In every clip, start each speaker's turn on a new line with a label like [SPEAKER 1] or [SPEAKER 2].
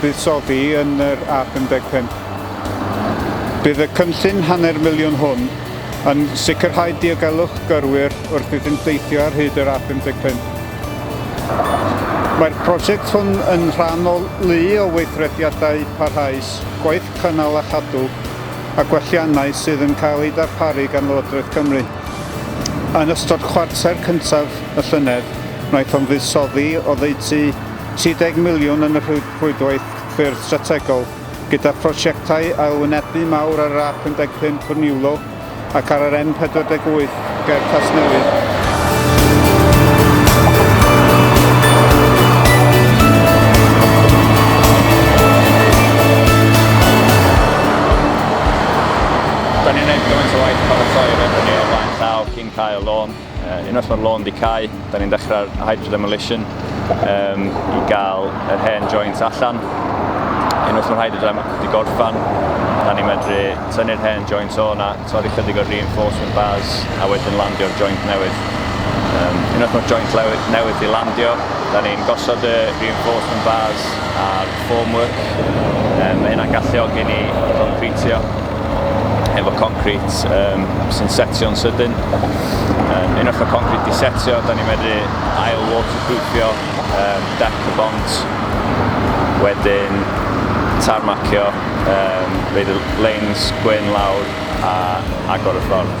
[SPEAKER 1] buddsoddi yn yr A55. Bydd y cynllun hanner miliwn hwn yn sicrhau diogelwch gyrwyr wrth iddynt deithio ar hyd yr A55. Mae'r prosiect hwn yn rhan o lu o weithrediadau parhaus, gwaith cynnal a chadw a gwelliannau sydd yn cael eu darparu gan Lywodraeth Cymru. Yn ystod chwarter cyntaf y llynedd, wnaethom fuddsoddi oddeutu 30 miliwn yn y Rhwydwaith Ffyrdd Strategol, gyda phrosiectau ailwynebu mawr ar yr A55 wrth Niwlo ac ar yr N48 ger Casnewydd. Dan ni'n wneud gymaint o waith paratoi ar hynny
[SPEAKER 2] o flaen llaw cyn cael y lôn. Unwaith mae'r lôn di cau, da ni'n dechrau'r hydrodemolition um, i gael yr hen joints allan. Unwaith mae'r hydrodemolition wedi gorffan, da ni'n medru tynnu'r hen joints o na, torri chydig o'r reinforcement bars a wedyn landio'r joint newydd. Um, unwaith mae'r joint newydd di landio, da ni'n gosod y reinforcement bars a'r Formwork, mae hynna'n galluogi ni i goncritio efo concrit sy'n setio'n sydyn. Unwaith mae concrit wedi setio, da ni'n medru ail waterproofio dec y bont, wedyn tarmacio, roid y leins gwyn lawr a agor y ffordd.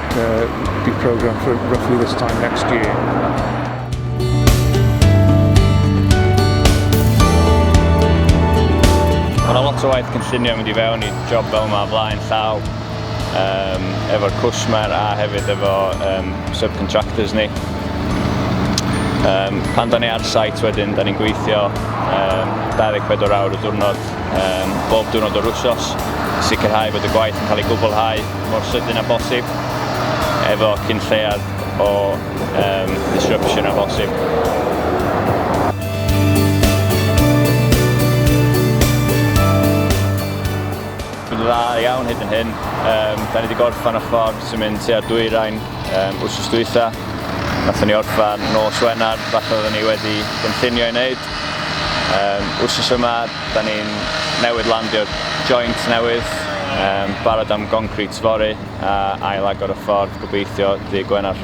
[SPEAKER 3] Uh, be programmed for roughly this time next
[SPEAKER 2] year. lot o waith cynllunio mynd i fewn i job fel yma flaen llaw um, efo'r cwsmer a hefyd efo um, subcontractors ni. Um, pan da ni ar site wedyn, da ni'n gweithio um, 24 awr y diwrnod um, bob diwrnod o'r wsos, sicrhau bod y gwaith yn cael ei gwblhau mor sydyn a bosib, efo cyn lleiad o um, disruption a bosib. dda iawn hyd yn hyn. Um, da ni wedi gorffan y ffordd sy'n mynd tua'r dwyrain um, wrth ysdwytha. Nathon ni orffan nos Wener, falle oedden ni wedi gynllunio i wneud, Yym, wsos yma, da ni'n newydd landio joint newydd, yym, barod am goncrit fory a ail agor y ffordd, gobeithio, ddydd Gwener.